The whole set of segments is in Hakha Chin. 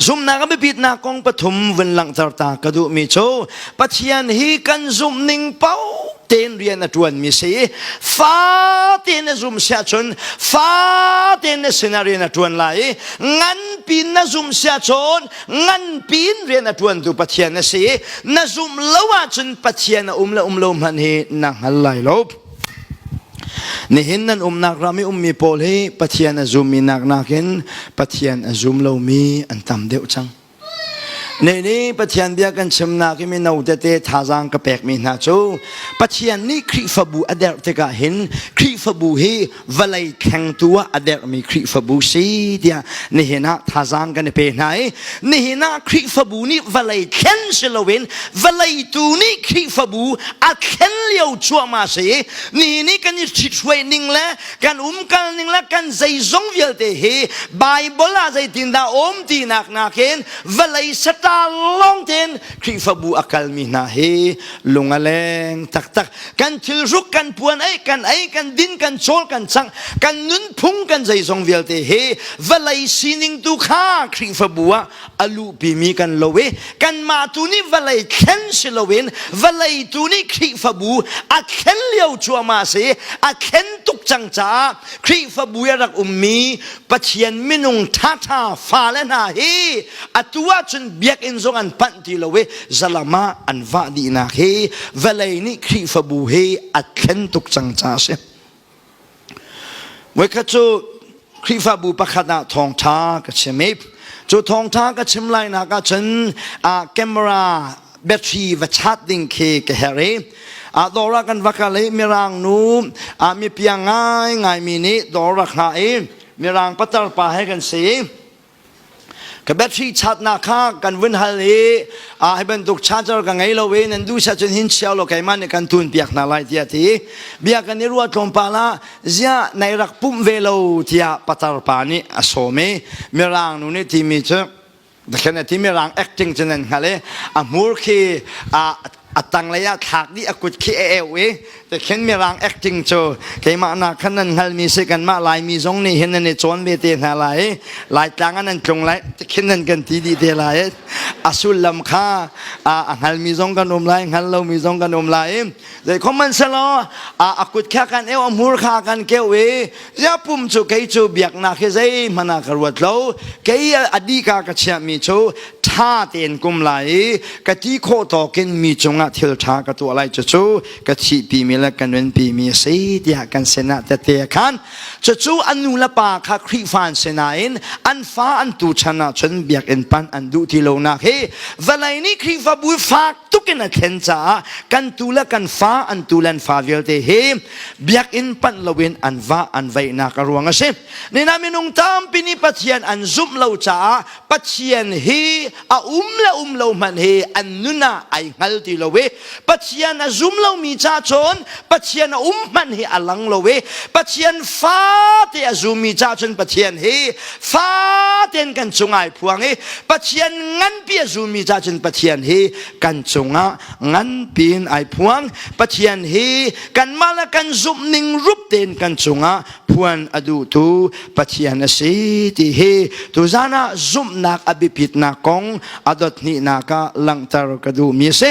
Zumnak a biapitnak kong pathum vun langhter ta ka duhmi cu Pathian hi kan zumh ning paoh tein rian a ṭuanmi si i fa tein na zum siah cun fa tein na sinah rian a ṭuan lai i nganpi in na zum siah cun nganpi in rian a ṭuantu Pathian na si i na zumh lo ahcun Pathian a um le um lo hmanh hi na hngal lai lo. Nihin nan umnak ram i ummi pawl hi Pathian a zummi nak nakin Pathian a zum lomi an tam deuh cang. Nei nih Pathian bia kan chimnak i mino tete thazaang ka pekmi hna cu Pathian nih Khrihfabu a derh tikah hin Khrihfabu hi vawlei thlengtu ah a dermi Khrihfabu si tiah nihin ah thazaang kan i pe hna i nihin ah Khrihfabu nih vawlei thlen si loin vawleitu nih Khrihfabu a thlen lio cuahmah si i nihin i kan i ṭhithruai ning le kan umkal ning le kan zeizong vialte hi Bible ah zeitindah um tinak nakin vawlei saṭa lawngtein Khrihfabu a kalmi hna hi lung a leng taktak kan thil ruk kan puan ei kan ei kan din kan chawl kan chang kan nunphung kan zeizong vialte he valei sining tu kha khrihfabu ah a luhpimi kan lo i kanmah tu nih valei thlen si loin valei tu nih khrihfabu a thlen lio cuama si a thlen tuk cang caah khrihfabu i a rak ummi pathian minung thatha fale hna hi atu ahcun biakinn zong an panh ti lo i zalam ah an vah dihnak hi vawlei nih khrihfabu hi a thlen tuk cang ca a si voikhat cu khrihfabu pakhat ah thawngṭha ka chim i cu thawngṭha ka chim lainak ah cun camera battery va chat ding khi ka herh i a dora kan vakal i mirang nu a mipia ngai ngai mi nih dor rak hna i mirang patar pa he kan si ka battery chatnak kha kan vun hal i a hi bantuk charger ka ngei lo i nan duh sa cun hin chiao lo keimah nih kan tun piak hna lai tiah ti bia kan i ruah tlawmpal ah ziah nai rak pumh ve lo tiah patar pa nih a sawm i mirang nu nih timi cu Dakhin a ti mirang acting cu nan hngal i a hmur khi a a tanglei ah thlak dih a kut khi a eu i te khin mirang acting cu keimah na khan nan hngalmi si kanmah laimi zong nih hin nan i cawn ve te hna lai i laitlang ah nan tlung lai te khin nan kan ti dih te lai i a sullam kha a hngalmi zong kan um lai hngal lomi zong kan um lai i zei khom man selaw a kut kha kan eu a hmur kha kan keu i Yapum cu kei cu biaknak hi zeihmanh ah ka ruat lo kei adika ka chiahmi cu ṭha tein kum lai i ka ti khawh tawkin mi cungah thil ṭha ka tuah lai cucu ka thihpimi le ka nunpimi a si tiah kan sinah tete khan cucu an nu le pa kha Khrihfa an si nain an fa an tu chan ahcun biakinn pan an duh ti lonak hi vawlei nih Khrihfabu fak tukin a thlen caah kan tu le kan fa an tu le an fa vialte hi biakinn panh loin an vah an vaihnak a ruang a si nina minung tampi nih pathian an zumh lo caah pathian hi a um le um lo hmanh hi an nun ah ai hngal ti lo i pathian a zum lomi ca cun pathian a um hmanh hi a lang lo i pathian fate a zummi ca cun pathian hi faten kan cung ai phuang i pathian nganpi a zummi ca cun pathian hi kan cungah nganpi in ai phuang pathian hi kanmah le kan zumh ning rup tein kan cungah phuan a duhtu pathian a si ti hi tuzan ah zumhnak a biapitnak kong a dot hnihnak ah langhter ka duhmi a si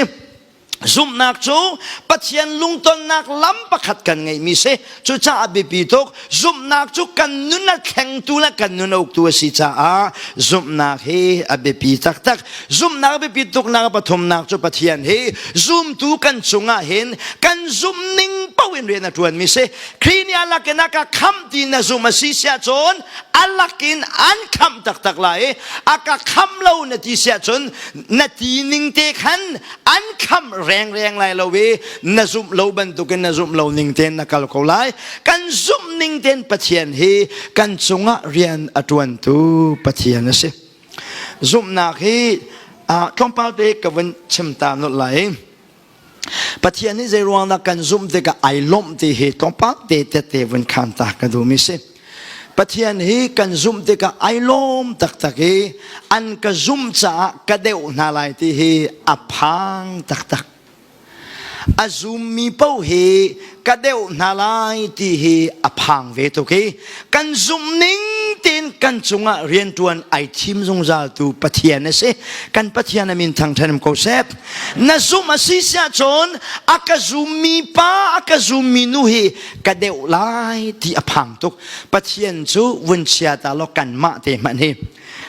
zumhnak cu pathian lungtonnak lam pakhat kan ngeihmi si Cucaah biapi tuk zumhnak cu kan nun a thlengtu le kan nun a uktu a si caah zumhnak hi a biapi taktak. Zumhnak biapi tuknak pathumnak cu Pathian hi zumtu kan cungah hin kan zumning paoh in rian a ṭuanmi si. Khrih nih a lakin a ka khamh ti na zumh a si siah cun a lakin an khamh taktak lai i a ka khamh lo na ti siah cun na ti ning te khan an kham rengreng lai lo i na zumh lo bantukin na zumh lo ning tein na kal ko lai kan zumh ning tein pathian hi kan cungah rian a ṭuantu pathian a si zumhnak hi tlawmpal te ka vun chim ta nut lai pathian nih zei ruangdah kan zumh tikah ai lawmh ti hi tlawmpal te te te vun khan ta ka duhmi si Pathian hi kan zumh tikah ai lawm taktak i an ka zumh caah ka deuh hna lai ti hi a phang taktak. A zummi paoh hi ka deuh hna lai ti hi a phang ve tuk i kan zumh ning tiin kan cungah riantuan ai thim zungzal tu Pathian a si kan Pathian a min thang ṭhenem ko sep na zumh a si siah cun a ka zummi pa a ka zummi nu hi ka deuh lai ti a phang tuk pathian cu vun chia ta law kan mah te hmanh hi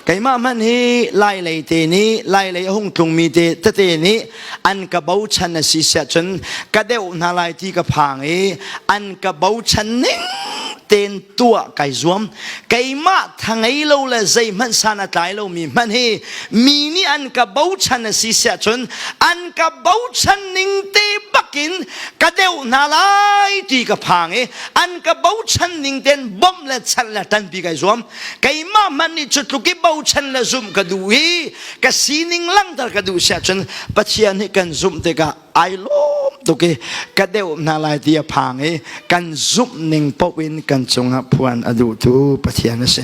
keimah hmanh hi lailei te nih lailei a hung tlungmi te tete nih an ka bochan a si siah cun ka deuh hna lai ti ka phang i an ka bochan ning ten tuah kai zuam keimah thangei lo le zei hmanh san a tlai lomi hmanh hi mi nih an ka bochan a si siah cun an ka bochan ning te bakin ka deuh hna lai ti ka phang i an ka bochan ning ten bom le chal le tanpi kai zuam keimah hmanh nih cu tluk i bochan le zumh ka duh i ka sining langter ka duh siah cun Pathian hi kan zumh tikah ai lawm tuk i ka deuh hna lai ti a phang i kan zumh ning paoh in kan cungah phuan a duhtu Pathian a si.